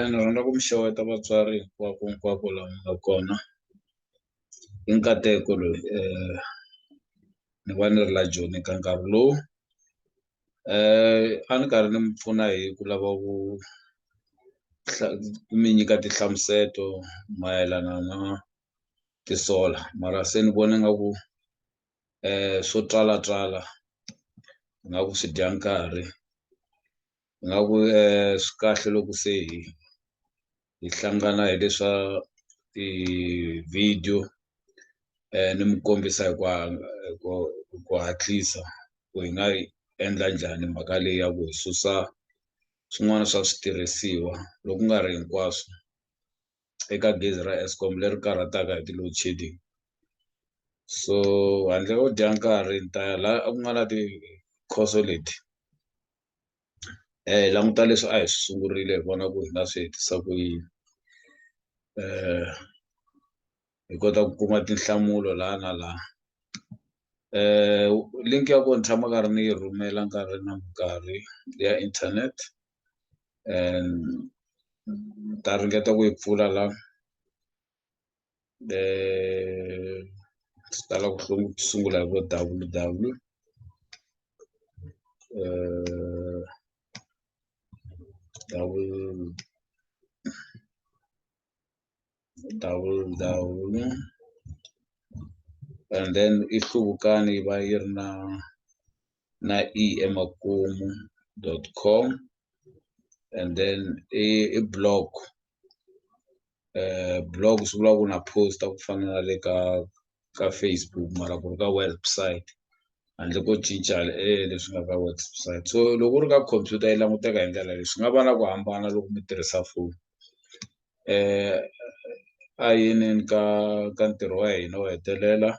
ni rhandza ku mi xeweta vatswari hinkwako hinkwako laha mi nga kona i nkateko loyi ni va ni ri la joni ka nkarhi lowu a ni karhi ni mi pfuna hi ku lava ku ku mi nyika tinhlamuseto mayelana na ti-solar mara se ni vona nga ku swo twala twala nga ku swi dya nkarhi nga ku swi kahle loko se hi hi hlangana hi leswa ti-video ni mi kombisa hi ku hi ku hi ku hatlisa ku hi nga yi endla njhani mhaka leyi ya ku hi susa swin'wana swa switirhisiwa loku nga ri hinkwaswo. eka gezi ra Eskom leri karhataka hi ti-load shedding so handle ko dya nkarhi ni ta ya la a ku nga na tikhoso leti hi languta leswi a hi swi sungurile hi vona ku hi nga swi hetisa ku yini hi kota ku kuma tinhlamulo la na la link ya ko ni tshama karhi ni yi rhumela nkarhi na nkarhi ya internet ni ta ringeta ku yi pfula la swi tala ku sungula hi vo W_W W. dawula dawula and then i hluvukani yi va yi ri na na e emakumu dot com and then i i blog eh blog swi vula ku na posta ku fana na le ka ka Facebook mara ku ri ka website handle ko cinca eh leswi nga ka website so loko u ri ka computer yi languteka hi ndlela leyi swi nga va na ku hambana loko mi tirhisa foni a yinini ka ka ntirho wa hina wo hetelela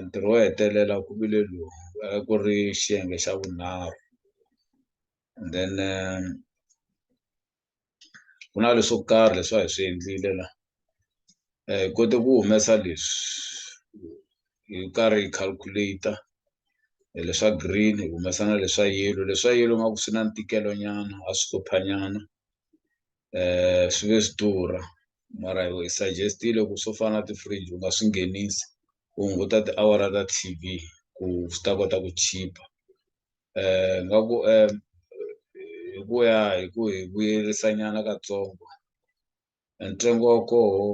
ntirho wo hetelela ku vile lowu a ku ri xiyenge xa vunharhu and then ku na leswo karhi leswi a hi swi endlile la hi kote ku humesa leswi hi karhi hi calculator hi leswa green hi humesa na leswa yellow leswa yellow nga ku swi na ntikelo nyana a swi hlupha nyana um swi ve swi durha mara hi suggest-ile ku swo fana na ti-fridge u nga swi nghenisi u hunguta tiawara ta T_V ku swi ta kota ku chipa ni nga ku hi ku ya hi ku hi vuyerisa nyana katsongo e ntsengo wa koho.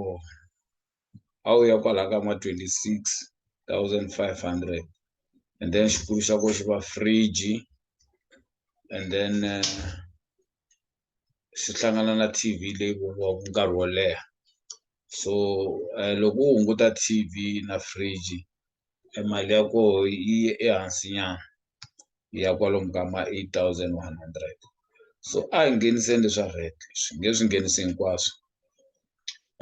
a wu ya kwalaya ka ma twenty six thousand five hundred and then xikulu xa ko xi va fridge and then xi hlangana na T_V leyi vuriwaka nkarhi wo leha so loko wo hunguta T_V na fridge. e mali ya koho yi ye ehansi nyana yi ya kwalomu ka ma eight thousand one hundred so a hi ngheniseni leswa VAT swi nge swi nghenisi hinkwaswo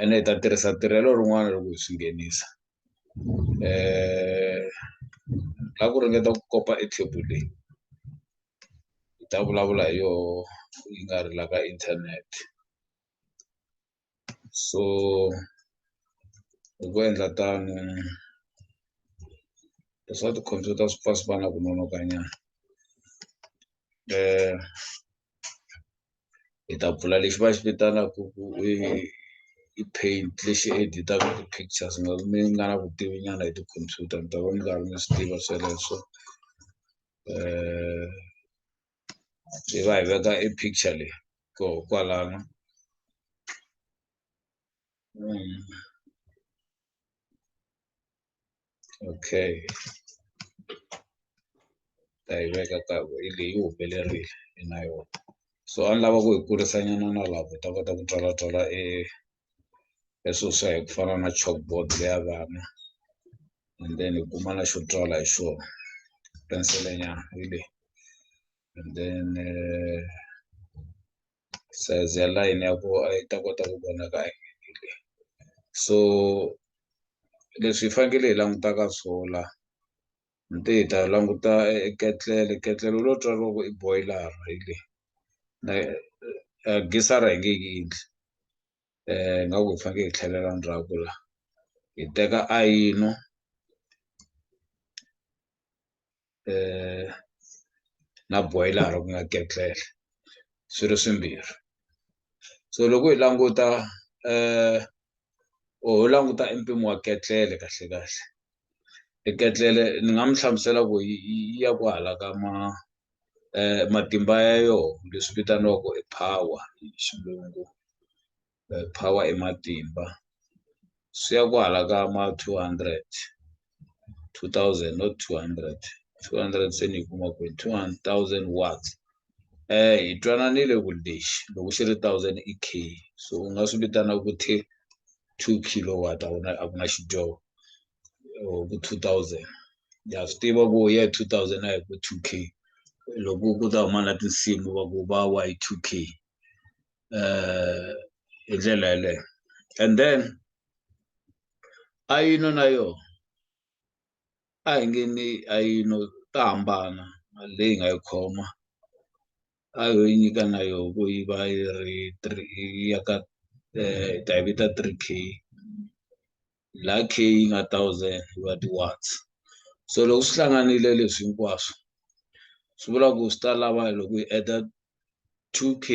ene hi ta tirhisa tirhelo rin'wana loko hi swi nghenisa ka ku ringeta ku kopa e table leyi hi ta vulavula hi yoho yi nga ri la ka internet. so hi ku endla tano leswa tikhompyuta swi pfa swi va na ku nonokanyana hi ta pfula lexi va xi vitanaka ku i i paint lexi editaka ti-pictures mi nga na vutivi nyana hi tikhompyuta mi ta va mi karhi mi swi tiva sweleswo . hi va hi veka e picture leyi koho kwalano okay ta yi veka ka hi leyi yi humelerile hi na yona so a ni lava ku hi kurisa nyana na laha ku ta kota ku twala twala e leswo swa hi ku fana na chalkboard leya vana and then hi kuma na xo tswala hi xona penselenyana hi leyi and then eh, size ya line ya ko a yi ta kota ku vonaka hi leyi so leswi hi fanekele hi langutaka swona ni te hi ta languta e ketlele ketlele u lo twa loko i boiler hi le na gisara hi nge yi endli nga ku hi faneke hi tlhelela ndzhaku la hi teka ayino na boiler ku nga ketlele swi ri swimbirhi. so loko hi languta um ho languta i mpimo wa ketlele kahle kahle i ketlele ni nga mi hlamusela ku yi ya ku hala ka ma um matimba ya yoho leswi vitaniwaku i power hi xilungu power i matimba swi ya ku hala ka ma two hundred. 2000 not 200 200 se ni yi kuma kwihi 2000 watts eh hi twananile ku lexi loko xi ri 1000 i k so u nga swi vitana ku thi 2 kilowatt a ku na a ku na xidyoho or ku 2000 ya swi tiva ku ye 2000 a hi ku 2 k loko ku ta huma na tinsimu va ku va wa hi 2 k eh hi ndlela yeleyo and then a yi no na yona a hi nge ni a yi no ta hambana mali leyi hi nga yi khoma a yo yi nyika na yo ku yi va yi ri three yi ya ka hi ta yi vita three K la K yi nga thousand yi va ti-watts so loko swi hlanganile leswi hinkwaswo swi vula ku swi ta lava loko yi add-a two K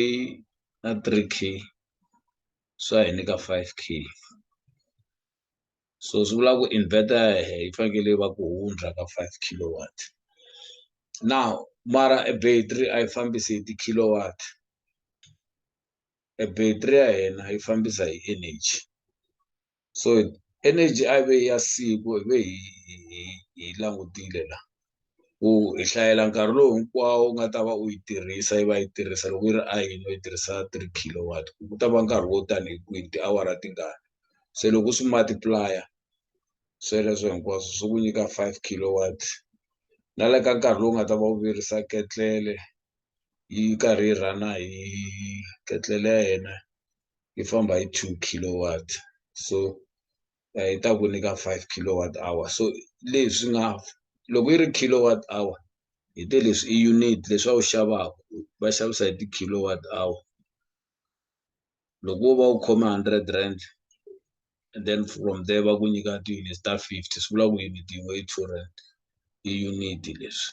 na three K swi ya hi nyika five K so swi vula ku inverter ya hehe yi fanekele yi va ku hundza ka five kilowatt now mara e battery a yi fambisi hi ti-kilowatt e battery ya hina yi fambisa hi energy. so energy a ve ya siku hi ve hi hi hi langutile la ku hi hlayela nkarhi lowu hinkwawo u nga ta va u yi tirhisa yi va yi tirhisa loko yi ri a yini u yi tirhisa three kilowatt ku ta va nkarhi wo tani hi kwihi tiawara tingani se loko u swi multiplaya sweleswo hinkwaswo swi ku nyika five kilowatt na le ka nkarhi lowu nga ta va u virisa ketlele yi karhi yi rhana hi ketlele ya yena yi famba hi two kilowatt so yi ta ku nyika five kilowatt hour so leswi nga loko yi ri kilowatt hour hi te leswi i unit leswi a wu xavaku va xavisa hi ti-kilowatt hour loko wo va u khome hundred rand and then from there va ku nyika ti-units ta fifty swi vula ku unit yin'we i two rand i unit leswi.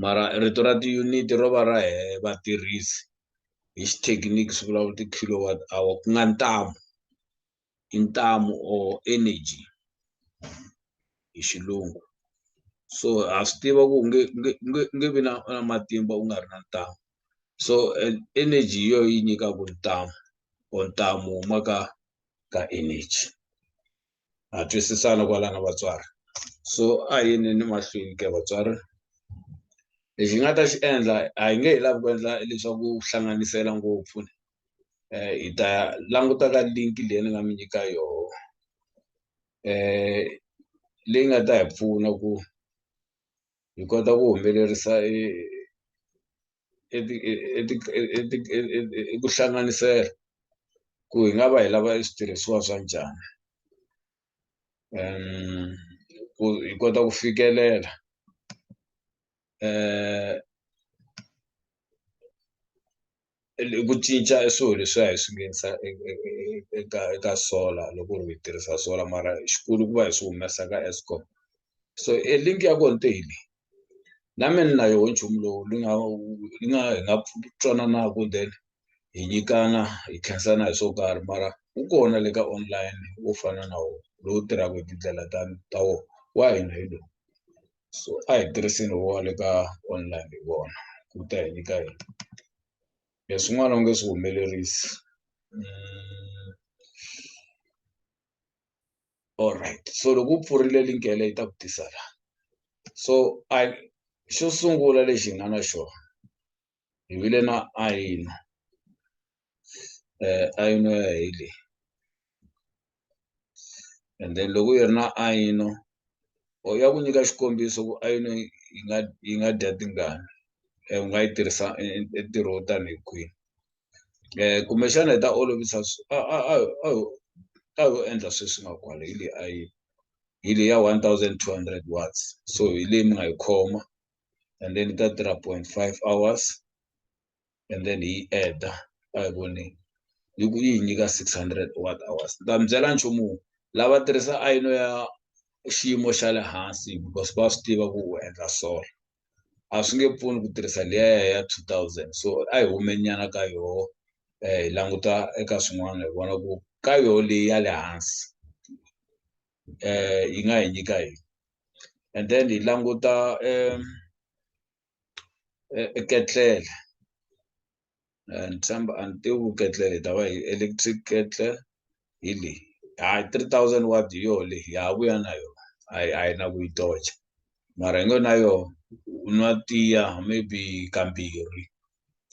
mara rito ra ti-unit ro va ra vatirhisi hi xithekiniki swi vulavula ti-kilowatt hour ku nga ntamu i ntamu or energy hi xilungu so ha swi tiva ku nge nge nge nge vi na na matimba u nga ri na ntamu so energy hi yo yi nyikaku ntamu or ntamu wu huma ka ka energy. ha twisisana kwalana vatswari so a hi yineni mahlweni ke vatswari lexi hi nga ta xi endla a hi nge hi lavi ku endla leswaku hlanganisela ngopfu um hi ta languta ka link leyi ni nga mi nyika yoho um leyi nga ta hi pfuna ku hi kota ku humelerisa hi ku hlanganisela ku hi nga va hi lava e switirhisiwa swa njhani ku hi kota ku fikelela ku cinca e swilo leswi a hi swi nghenisa eka eka solar loko ri hi tirhisa solar mara xikulu ku va hi swi humesa ka Eskom so e link ya ko ni te hi leyi. na mina ni na yoho nchumu lowu ni nga ni nga hi nga twananaku then hi nyikana hi tlherisana hi swo karhi mara wu kona le ka online wo fana na wona lowu tirhaka hi tindlela ta ta wona wa hina hi lowu so a hi tirhiseni wa le ka online hi wona ku ta hi nyika yona leswin'wana u nge swi humelerisi . alright so loko u pfurile link ya leyi ta ku tisa la so i xo sungula lexi hi nga na xona hi vile na ayino eh ayino ya hi leyi and then loko yi ri na ayino or ya ku nyika xikombiso ku ayino yi nga yi nga dya tingani u nga yi tirhisa entirho wo tanihi kwihi um kumbexana hi ta olovisa a a a a a yo endla sweswi nga kwala hi leyi a yi hi leyi ya one thousand two hundred watts so hi leyi mi nga yi khoma and then yi ta tirha point five hours and then hi yi adder a hi voni yi ku yi hi nyika six hundred watt hours ni ta mi byela nchumu lava tirhisa ayino ya xiyimo xa le hansi because va swi tiva ku u endla solar. a swi nge pfuni ku tirhisa liya ya two thousand so a hi hume nyana ka yoho um hi languta eka swin'wana hi vona ku ka yoho leyi ya le hansi um yi nga hi nyika yini and then hi languta um e ketlele. ni tshemba a ni tivi ku ketle hi ta va hi electric ketle hi leyi hayi three thousand word hi yoho leyi ya ha vuya na yona a hi a hi na ku yi tocha mara hi ngo na yoho u nwa tiya maybe kambirhi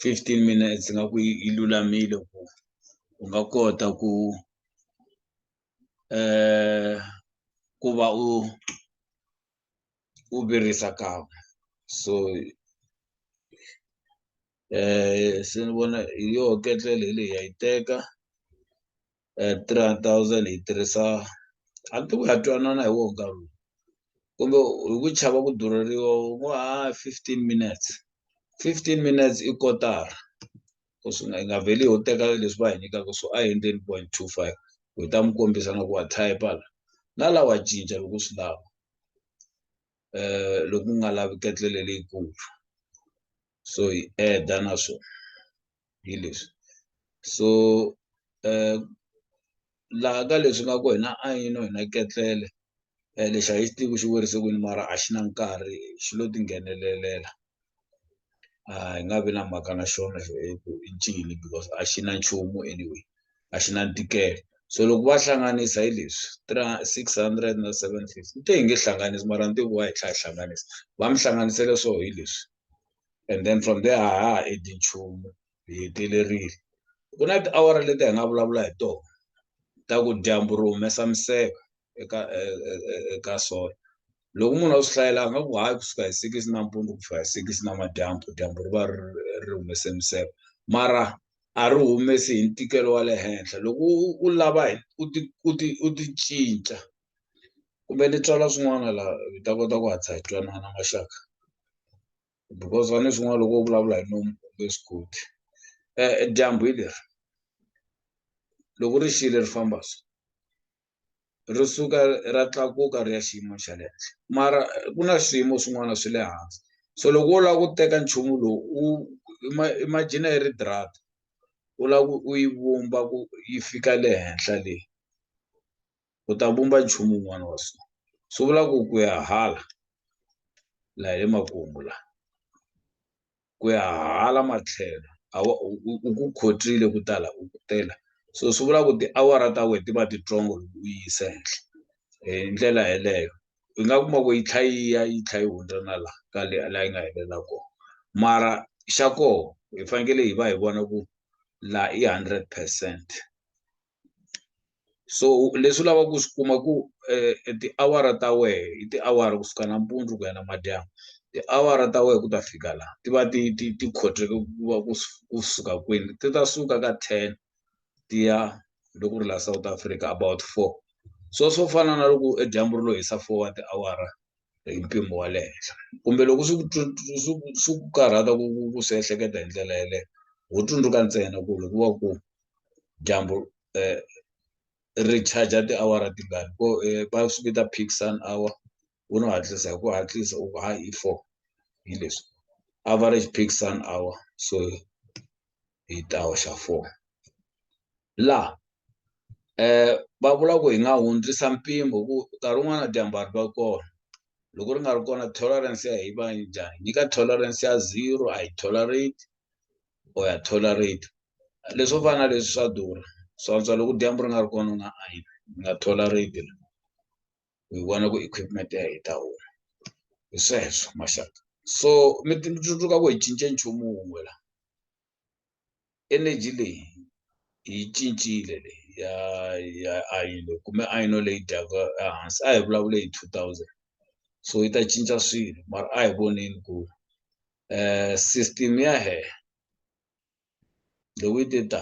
fifteen minutes nga ku yi yi lulamile ku u nga kota ku um ku va u u virisa kan'we so um se ni vona hi yoho ketlele hi leyi ha yi teka um three hundred thousand hi tirhisa a ni tivi ku ha twanana hi woho nkarhi lowu kumbe hi ku chava ku durheriwa u ngo ha fifteen minutes fifteen minutes i kotara ku swi nga hi nga vheli ho teka leswi va hi nyikaka swo a hi endleni point two five hi ta mi kombisa na ku wa type la na la wa cinca loko swi lava um loko u nga lavi ketlele leyikulu so hi eda na swona hi leswi so um laha ka leswi nga ku hina a yini hina ketlele um lexi a hi xi tivi ku xi werise kwini mara a xi na nkarhi xi lo tinghenelelela a hi nga vi na mhaka na xona xo hi ku i ncini because a xi na nchumu anyway a xi na ntikelo so loko va hlanganisa hi leswi three six hundred na seven fifty ni te hi nge hlanganisi mara ni te vo va hi tlha hi hlanganisa va mi hlanganisele swo hi leswi and then from there a ha ha endli nchumu hi hetelerile ku na tiawara leti hi nga vulavula hi tona ta ku dyambu ri humesa miseka eka eka sola loko munhu a swi hlayela a nga ku hayi kusuka hi six nampundzu ku fika hi six namadyambu dyambu ri va ri ri humese miseka mara a ri humesi hi ntikelo wa le henhla loko u lava u ti u ti u ti cinca kumbe ni tswala swin'wana laha hi ta kota ku hatlisa hi twanana maxaka because va ni swin'wana loko u vulavula hi nomu u nge swi koti dyambu hi leri loko ri xile ri famba so ri suka ra tlakuka ri ya xiyimo xa le henhla mara ku na swiyimo swin'wana swi le hansi so loko wo lava ku teka nchumu lowu u imagine yi ri u lava ku u yi vumba ku yi fika le henhla le. u ta vumba nchumu wun'wana wa swona swi vula ku ku ya hala la hi le makumu la ku ya hala matlhelo a wa u u ku khotile ku tala u ku tela so swi vula ku tiawara ta wena ti va titsongo loko u yi yisa henhla hi ndlela yeleyo u nga kuma ku yi tlha yi ya yi tlha yi hundza na la ka le la yi nga helela kona mara xa koho hi fanekele hi va hi vona ku la i hundred percent. so leswi u lavaka ku swi kuma ku tiawara ta wehe i tiawara kusuka nampundzu ku ya na madyambu tiawara ta wehe ku ta fika laha ti va ti ti ti khoteke ku va ku ku suka kwini ti ta suka ka ten ti ya loko ku ri laha South Africa about four so swo fana na loko dyambu ri lo hisa four wa tiawara hi mpimo wa le henhla kumbe loko swi ku swi ku swi ku karhata ku ku ku swi ehleketa hi ndlela yeleyo ho tsundzuka ntsena ku loko va ku dyambu ri charger tiawara tingani ko va swi vita peak sun hour u no hatlisa hi ku hatlisa u hayi i four hi leswi average peak sun hour so hi ta hoxa four. laha um va vula ku hi nga hundzisa mpimo ku nkarhi wun'wana na dyambari va kona loko ri nga ri kona tolerance ya hi va njhani nyika tolerance ya zero a yi tolerate or ya tolerate leswo fana na leswi swa durha swantswa loko dyambu ri nga ri kona u nga a yi nga tolerate hi vona ku equipment ya hi ta huma hi sweswo maxaka so mi tsundzuka ku hi cince nchumu wun'we la energy leyi yi cincile leyi ya ya ayini leyi kume ayino leyi dyaka ehansi a hi vulavule hi two thousand so yi ta cinca swilo mara a hi voneni ku system ya hehla loko yi te ta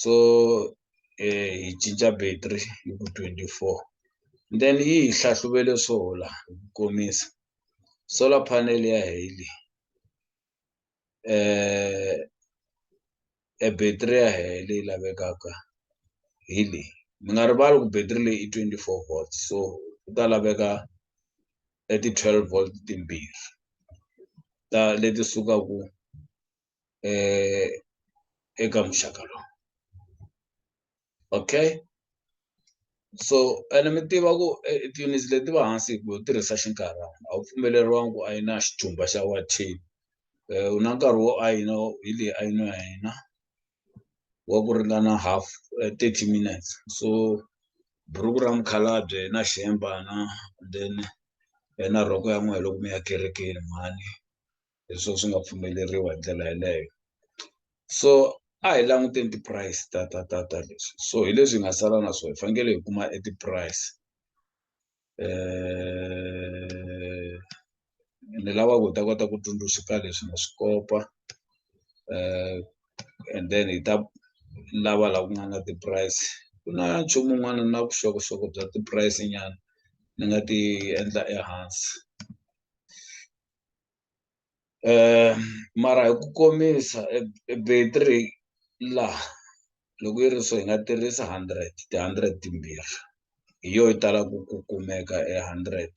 so eh, hi cinca battery yi ku 24 then yi hi hlahluvele solar hi ku komisa solar panel ya heli eh e battery ya heli leyi lavekaka hi leyi mi nga rivali ku battery leyi i 24 volts so ku ta laveka e ti-12 volt timbirhi ta leti sukaku eh, eka muxaka lowu okay so ene mi tiva ku eh, tiyunisi leti va hansi hi ku tirhisa xinkarhana a wu pfumeleriwangi ku a yi na xijumba xa wa ten eh, u na nkarhi wo a yi na hi leyi a yi na ya hina wa ku ringana half eh, thirty minutes so buruku ra mukhalabye na xihembana then eh, na rhoko ya n'wehe loko mi ya kerekeni mhani leswo swi nga pfumeleriwa hi ndlela yeleyo so a hi languteni ti-price ta ta ta ta leswi so hi leswi hi nga sala na swo hi fanekele hi kuma e ti-price ni lava ku hi ta kota ku tsundzuxa ka leswi na swi kopa and then hi ta lava la ku nga na ti-price ku na nchumu wun'wana na vuxokoxoko bya ti-price nyana ni nga ti endla ehansi. um mara hi ku komisa e battery laha loko yi ri so hi nga tirhisa hundred ti-hundred timbirhi hi yo yi tala ku ku kumeka e hundred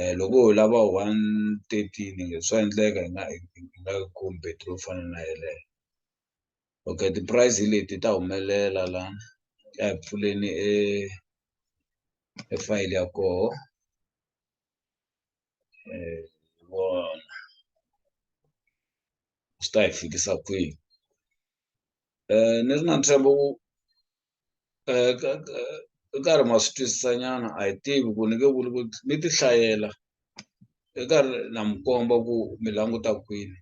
um loko ho lava one thirteen swa endleka hi nga hi nga yi kumi battery yo fana na yeleyo okay ti-price hi leti ta humelela la a hi pfuleni e e fayili ya koho. eh, hi vona swi ta hi fikisa kwihi um ni ri na ntshembo ku um ka karhi ma swi twisisa nyana a hi tivi ku ni nge vuli ku ni ti hlayela i karhi na mi komba ku mi languta kwini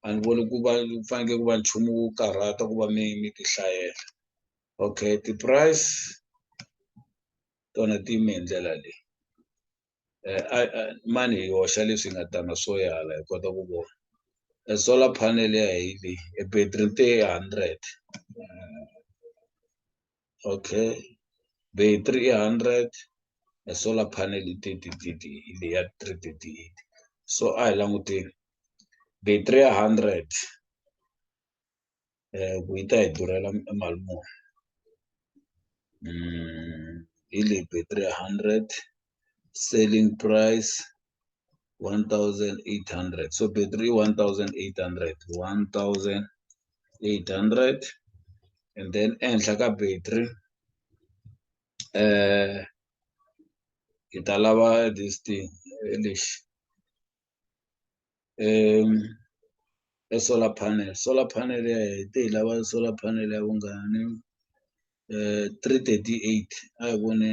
a ni voni ku va fanekele ku va nchumu wo karhata ku va mi mi ti hlayela okay ti-price tona ti yime hi ndlela leyi. mani hi hoxa leswi nga tana swo yala hi kota ku vona e solar panel ya hi leyi e battery te hundred okay battery i hundred e solar panel i thirty thirty hi leyi ya three thirty eight so a hi languteni battery ya hundred ku yi ta hi durhela e mali muni hi leyi battery hundred selling price one thousand eight hundred so battery i one thousand eight hundred one thousand eight hundred and then ehenhla ka battery hi ta lava this thing lexi um e solar panel solar panel ya hi te hi lava solar panel ya vungani um three thirty eight a hi vone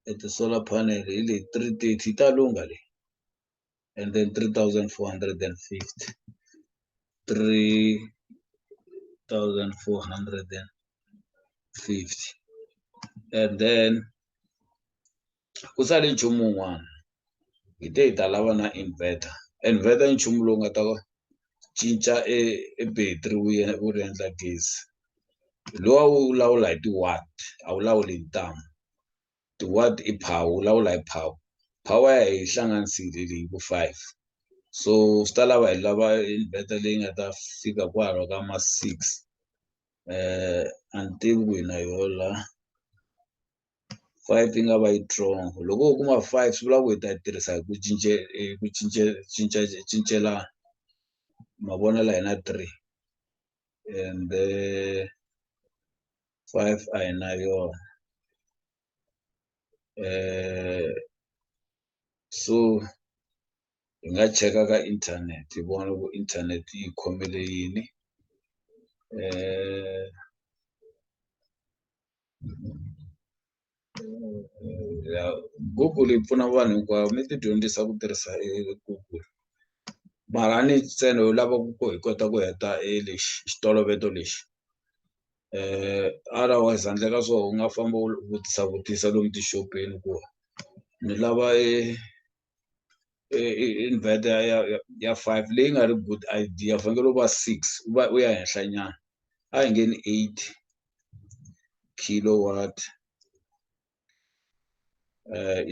e ti-solar panel hi le three thirty ta lungha leyi and then three thousand four hundred and fifty three thousand four hundred and fifty and then ku sale nchumu wun'wana hi te hi ta lava na inverter inverter i nchumu lowu nga ta cinca e e battery wu ya wu ri endla gezi lowa wu lawula hi ti-watt a wu lawuli hi ntamu ti-watt i power wu lawula hi power power ya hi hlanganisile leyi ku five so swi ta lava hi lava inverter leyi nga ta fika kwala ka ma six a ni tivi ku yi na yoho la. five yi nga va yi strong loko wo kuma five swi vula ku hi ta yi tirhisa hi ku cince hi ku cince cinca cincelana mavonelo hina three ende five a hi na yona so hi nga cheka ka internet hi vona ku internet yi khomele yini Google yi pfuna vanhu hinkwavo mi ti dyondzisa ku tirhisa Google mara a ni ntsena u lava ku hi kota ku heta e lexi xitoloveto lexi otherwise handle ka swona u nga famba u vutisa vutisa lomu tixopeni ku ni lava e. inverter ya ya ya five leyi nga ri good idea u fanekele u va six u va u ya henhla nyana a hi nge ni eight kilowatt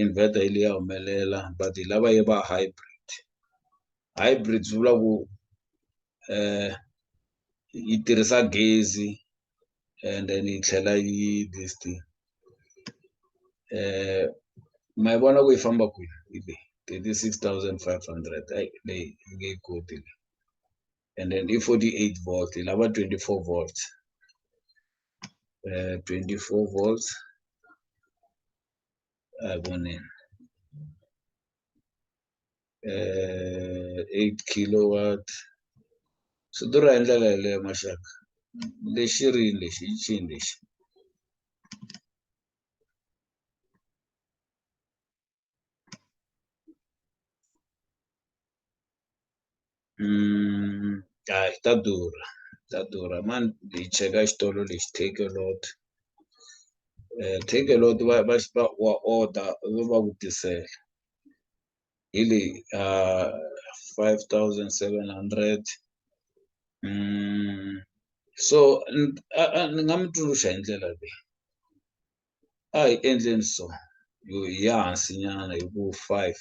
inverter yi liya humelela but hi lava yi va hybrid hybrid swi vula ku yi tirhisa gezi and then yi tlhela yi this thing eh ma yi vona ku yi famba kwini yi le thirty-six thousand five hundred ayi leyi yi nge yi koti leyi and then i forty-eight volt yi lava twenty-four volt eh twenty-four volt a yi voneni eh, eight kilowatt swi durha hi ndlela yeleyo maxaka lexi rini lexi i chini lexi Mm, ah, ta durha ta durha mani hi cheka xitolo lexi take a lot um take a lot va va va wa order va va ku tisela hi leyi um five thousand seven hundred mm, so ni nga mi tsundzuxa hi ndlela leyi a hi endleni so yo hi ya hansi nyana hi ku five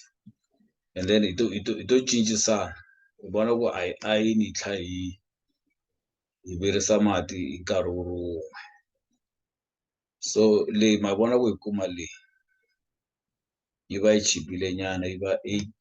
and then hi to hi to hi to cincisana hi vona ku a hi a yi ni tlha hi hi virisa mati hi nkarhi wu ri wun'we so leyi ma vona ku hi kuma leyi yi va yi chipile nyana yi va eight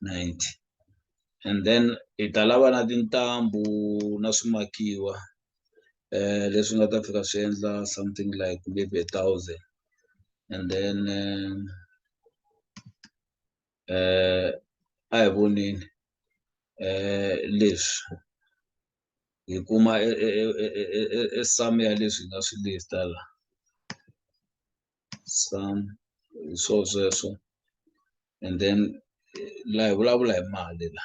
90 and then hi ta lava na tintambu na swimakiwa eh leswi nga ta fika swi endla something like maybe a thousand and then um, eh a hi voneni eh leswi hi kuma e sum ya leswi nga swi list la some hi swo sweswo and then la hi vulavula hi mali la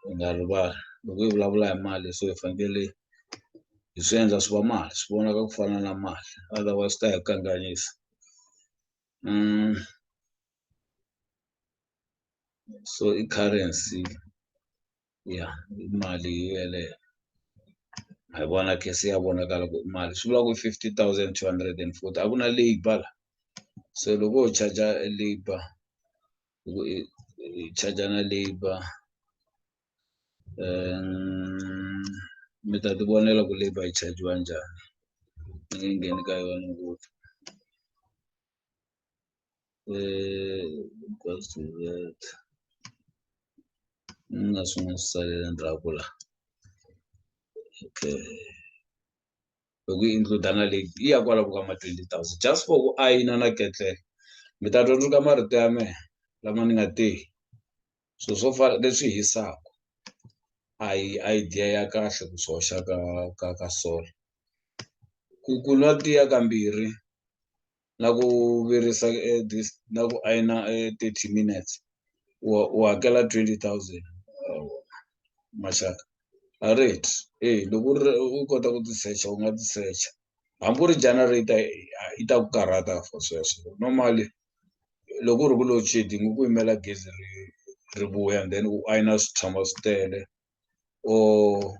hi nga rivali loko hi vulavula hi mali so hi fanekele hi swi endla swi va mali swi vonaka ku fana na mali otherwise ta hi kanganyisa so i currency ya i mali yeleyo ha yi vona khe se ya vonakala ku i mali swi vula ku fifty thousand two hundred and forty a ku na labour la so loko ho charger labour loko i i charger na labour um mi ta ti vonela ku labour yi chajiwa njhani ni nge ngheni ka yona ngopfu. equals to that ni nga swi n'wi salela ndzhaku la okay loko yi include na leyi yi ya kwaloko ka ma twenty thousand just for ku ayina na ketlela mi ta twa ka marito ya mehe lama ni nga te swilo swo fana leswi hisaka a hi idea ya kahle ku swi hoxa ka ka ka solar ku ku nwa tiya kambirhi na ku virisa eh, this na ku ayina eh, 30 minutes u u hakela 20000 maxaka a rit eh loko u ri- u kota ku tisecha u nga tisecha hambi u ri generator eh, yi ta ku karhata for sweswo normally loko ku ri ku load shedding i ku yimela gezi ri ri vuya and then u ayina swi tshama swi tele or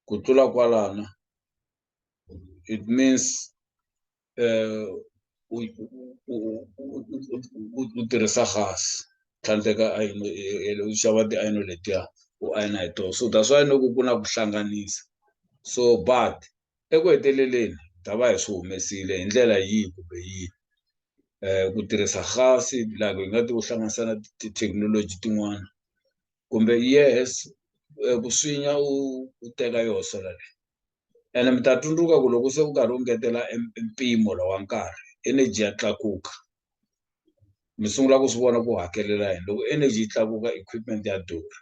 ku tlula kwalana it means u u tirhisa gas tlhandleka ayini u xava tiayini letiya u ayina hi toho so that's why ni ku ku na ku hlanganisa so but Eku heteleleni, hi ta va hi swi humesile hi ndlela yihi kumbe yihi, ku tirhisa gasi, loko hi nga ti u hlanganisa na tithekinoloji tin'wana kumbe yes ku swinya u u teka yoho solar leyi ene mi ta tsundzuka ku loko se u karhi u ngetela e mpimo lowu wa nkarhi energy ya tlakuka. mi sungula ku swi vona ku hakelela yini loko energy yi tlakuka equipment ya durha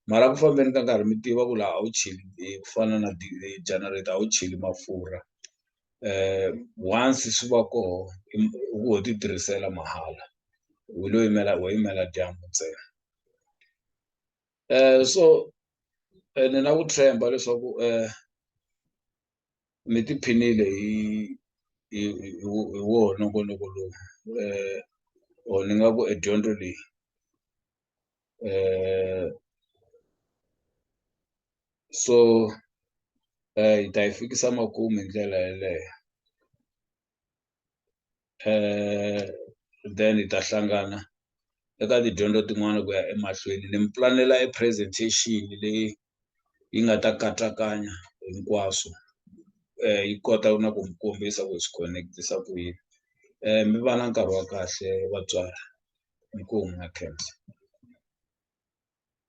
mara ku fambeni ka nkarhi mi tiva ku laha a wu cheli ku fana na generator a wu cheli mafurha once swi va koho u ho ti tirhisela mahala u lo yimela wo yimela dyambu ntsena so ene na ku tshemba leswaku ni tiphinile hi hi hi hi wona nongonoko lowu or ni nga ku e dyondzo leyi so hi ta yi fikisa makumu hi ndlela yeleyo. eh then hi ta hlangana eka tidyondzo tin'wana ku ya emahlweni ni mi pulanela e presentation leyi yi nga ta katsakanya hinkwaswo um yi kota na ku mi kombisa ku swi connect-isa ku yini um mi va na nkarhi wa kahle vatswari inkomu na khensa.